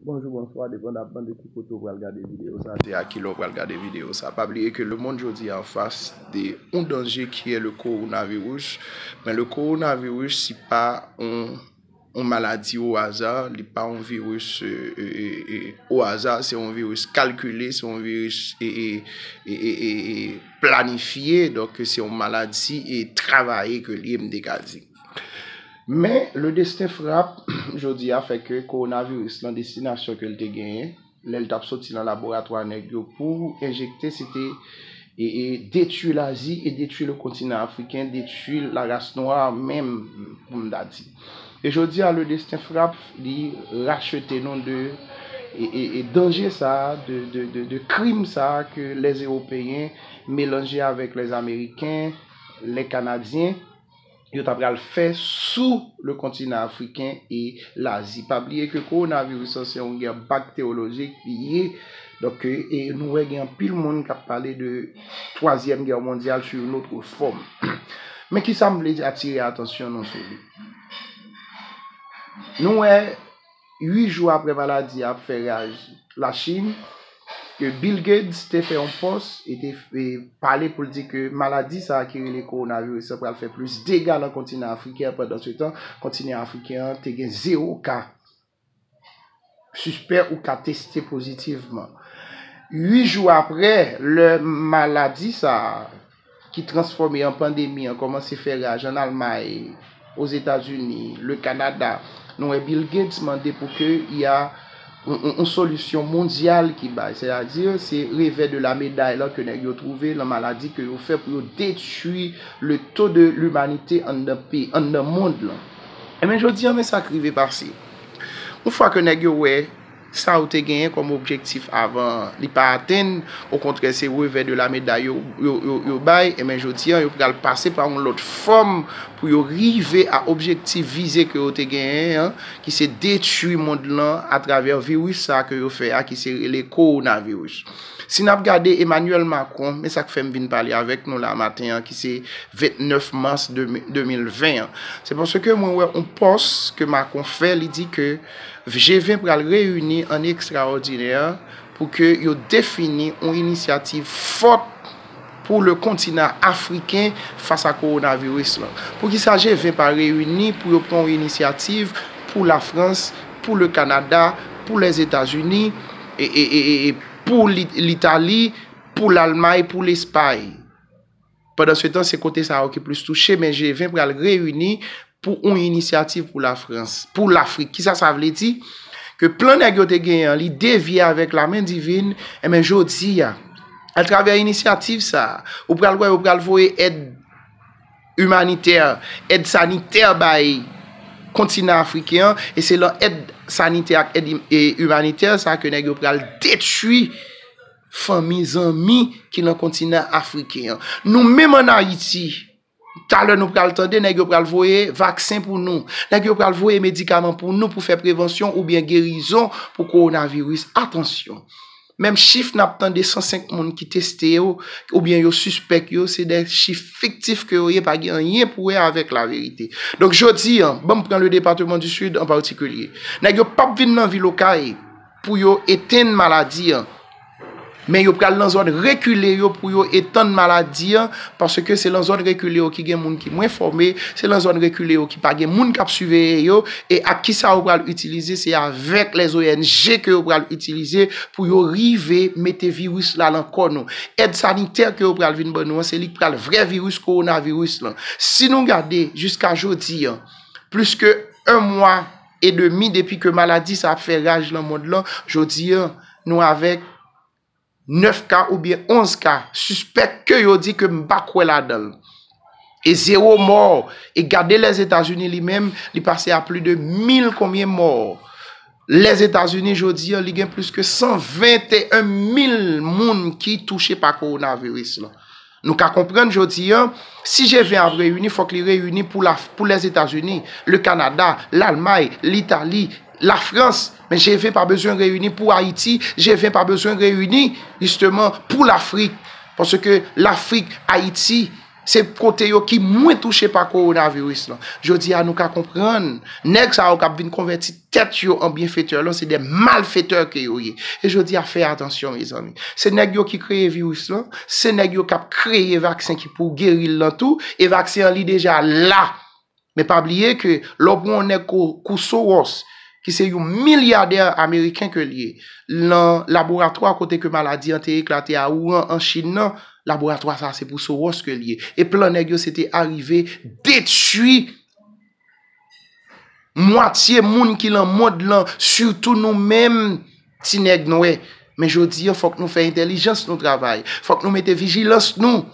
Bonjou bonswa depandaman de ki kote ou pral gade video sa se a kilè ou pral gade video sa pa bliye ke le mond jodi an fas de yon danje kiyè le kowonavirus men le kowonavirus si pa yon maladi o aza li pa yon virus o aza se yon virus kalkile se yon virus planifye donk se yon maladi travaye ke liye m te ka di. Men, le destin frappe, jodi a, fè ke kowonaviris lan destinasyon ke l te genyen, lè l t ap soti nan laboratwa nèg yo pou enjekte, se te detui Lazi e detui le kontinan Afriken, detui la ras nwa menm, pou m ta di. E jodi a, le destin frappe, li rachete nou de danje sa a, de krim sa a ke lè Ewopeyen melanje avèk lè Ameriken, lè Kanadyen, yo ta pral fè sou le kontinan afriken e lazi. Pa bliye ke kowonaviris lan se yon gè bakterolojik li ye. Donk e nou wè gen anpil moun k ap pale de twazyèm gè mondyal sou yon otre fòm. Men kisa m vle atire atansyon nou sou li. Nou wè. 8 jou apre maladi a ap fè raj Lachin, ke Bill Gates te fè yon pòs e te pale pou l di ke maladi sa a ki rele kowonaviris la pral fè plis dega nan kontinan afriken an, pandansetan kontinan afriken an te gen zewo ka sispè ou ka teste pozitivman. 8 jou apre, lè maladi sa a. ki transfòme an pandemi an kòmanse fè raj an Almay, Ozetazini, le Kanada, nou wè Bill Gates mande pou ke y a yon solisyon mondyal ki bay, sètadi se revè de la meday lan ke nèg yo twouve lan maladi ke yo fè pou yo detwi le to de limanite anndan mond lan. Enben jodi an men sa k rive pase, yon fwa ke nèg yo wè. Sa ou te genyen kòm objektif avan an, li pa atenn, okontrè se revè de la meday yo bay, enben jodi an yo pral pase pa yon lòt fòm pou yo rive a objektif vize ke yo te genyen an, ki se detwi mond lan atravè viris sa ke yo fè a ki se rele kowonaviris. Si n ap gade Emmanuel Macron, men sa k fè m vin pale avèk nou la maten an ki se 29 mas 2020 an, se paske mwen wè yon pòs ke Macron fè, li di ke. G20 pral reyini an ekstraòdinè pou ke yo defini yon inisyativ fòt pou le kontinan afriken fas a kowonaviris lan. Poukisa G20 pa reyini pou yo pran yon inisyativ pou la Frans, pou le Kanada, pou Lèzetazini, pou Litali, pou Lalmay, pou Lespay? Pandansetan, se kote sa yo ki plis touche, men G20 pral reyini pou yon inisyativ pou Lafrans, pou Lafrik. Kisa sa vle di? Ke plan nèg yo te genyen an, li devye avèk lamen divin, enben jodi a, atravè inisyativ sa a, ou pral wè yo pral voye èd imanitè, èd sanitè bay kontinan Afriken an, e se lan èd sanitè ak èd imanitè sa a ke nèg yo pral detwi, fanmi, zanmi ki nan kontinan afriken an. Nou menm an Ayiti, talè nou pral tande nèg yo pral voye vaksen pou nou, nèg yo pral voye medikaman pou nou pou fè prevansyon oubyen gerizon pou kowonaviris. Atansyon! Menm chif n ap tande 105 moun ki teste yo oubyen yo sispèk yo, se de chif fiktif ke yo ye pa gen anyen pou wè avèk laverite. Donk jodi an, banm pran le depateman di Sid an patikilye. Nèg yo p ap vin nan vil Okay. pou yo etenn maladi an, men yo pral nan zòn rekile yo pou yo etann maladi an, paske se lan zòn rekile yo ki gen moun ki mwen fòme, se lan zòn rekile yo ki pa gen moun k ap siveye yo, e ak ki sa yo pral itilize, se avèk lès ONG ke yo pral itilize pou yo rive mete viris la lan kò nou. Èd sanitè ke yo pral vin ban nou an, se li k pral vrè viris kowonaviris lan. Si nou gade jiska jodi an, plis ke 1 mwa, e demi depi ke maladi sa ap fè raj lan mond lan, jodi an nou avèk 9 ka oubyen 11 ka sispèk ke yo di ke m pa kwè ladan l, e zewo mò, e gade Lèzetazini li menm li pase a pli de mil konbyen mò, Lèzetazini jodi an li gen plis ke 121 mil moun ki touche pa kowonaviris lan. Nou ka konprann jodi an, si G20 ap reyini, fòk li reyini pou Lèzetazini, Lekanada, Lalmay, Litali, Lafrans. Men G20 pa bezwen reyini pou Ayiti, G20 pa bezwen reyini jisteman pou Lafrik. Paske Lafrik, Ayiti, se kote yo ki mwen touche pa kowonaviris lan. Jodi an nou ka konprann, nèg sa yo kap vin konvèti. tèt yo an byenfetè lan se de malfetè ke yo ye. E jodi a fè atansyon mezanmi. Se nèg yo ki kreye viris lan, se nèg yo kap kreye vaksen ki pou geri l lan tou, e vaksen an li deja la. Men pa bliye ke lè w pran yon nèg kou Soros ki se yon milyadè ameriken ke l ye, lan laboratwa kote ke maladi an te eklate a Wuhan an Chin nan, laboratwa sa se pou Soros ke l ye. E plan nèg yo se te arive detui. Mwatye moun ki lan mond lan, sitou nou menm ti nèg nwè. Men jodi an fòk nou fè entèlijans nou travay. Fòk nou mete vijilans nou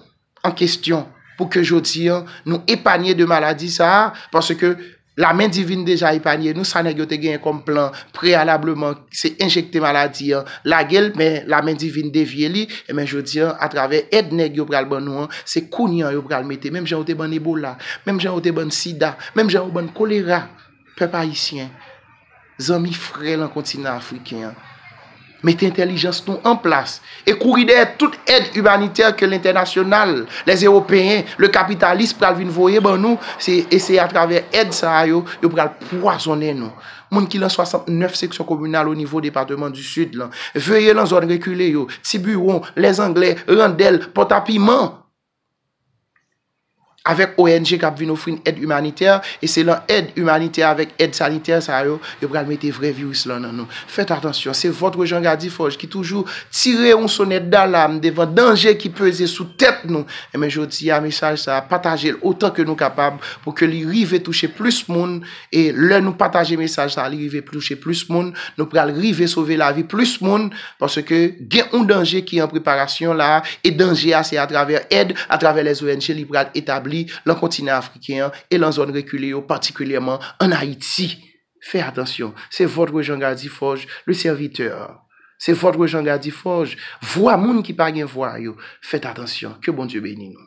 an kestyon pou ke jodi an nou epanye de maladi sa a. Paske lamen divin deja epanye nou sa nèg yo te genyen kòm plan preyalableman. se enjekte maladi an lage l men lamen divin devye li enben jodi an atravè èd nèg yo pral ban nou an se kounye an yo pral mete menm jan yo te ban n ebola menm jan yo te ban n sida menm jan yo ban n kolera pèp ayisyen zanmi frè lan kontinan afriken an mete entèlijans nou an plas e kouri dèyè tout èd imanitè ke lentènasyonal lèzewopeyen lekapitalis pral vin voye ban nou se e se atravè èd sa a yo yo pral pwazonnen nou. Moun ki lan 69 seksyon kominal o nivo depateman di Sid lan, veye lan zòn rekile yo, Ti Biwon, Lèzanglè, Randèl, Pòtapiman, avèk ONG k ap vin ofri n èd imanitè, e se lan èd imanitè avèk èd sanitè sa yo, yo pral mete vrè viris lan nan nou. Fèt atansyon, se vòtre Jean Gadiforge ki toujou tire yon sonèt dalam devan danje ki peze sou tèt nou. Enben jodi a, mesaj sa a, pataje l otan ke nou kapab pou ke li rive touche plis moun. E lè nou pataje mesaj sa li rive touche plis moun, nou pral rive sove lavi plis moun paske gen yon danje ki an preparasyon la e danje a se atravè èd, atravè lès ong li pral etabli lan kontinan afriken an e lan zòn rekile yo patikilyèman an Ayiti. Fè atansyon. Se votre Jean Gardy Forge, le serviteur. Se votre Jean Gardy Forge, vwa moun ki pa gen vwa yo. Fèt atansyon. Ke Bondye beni nou.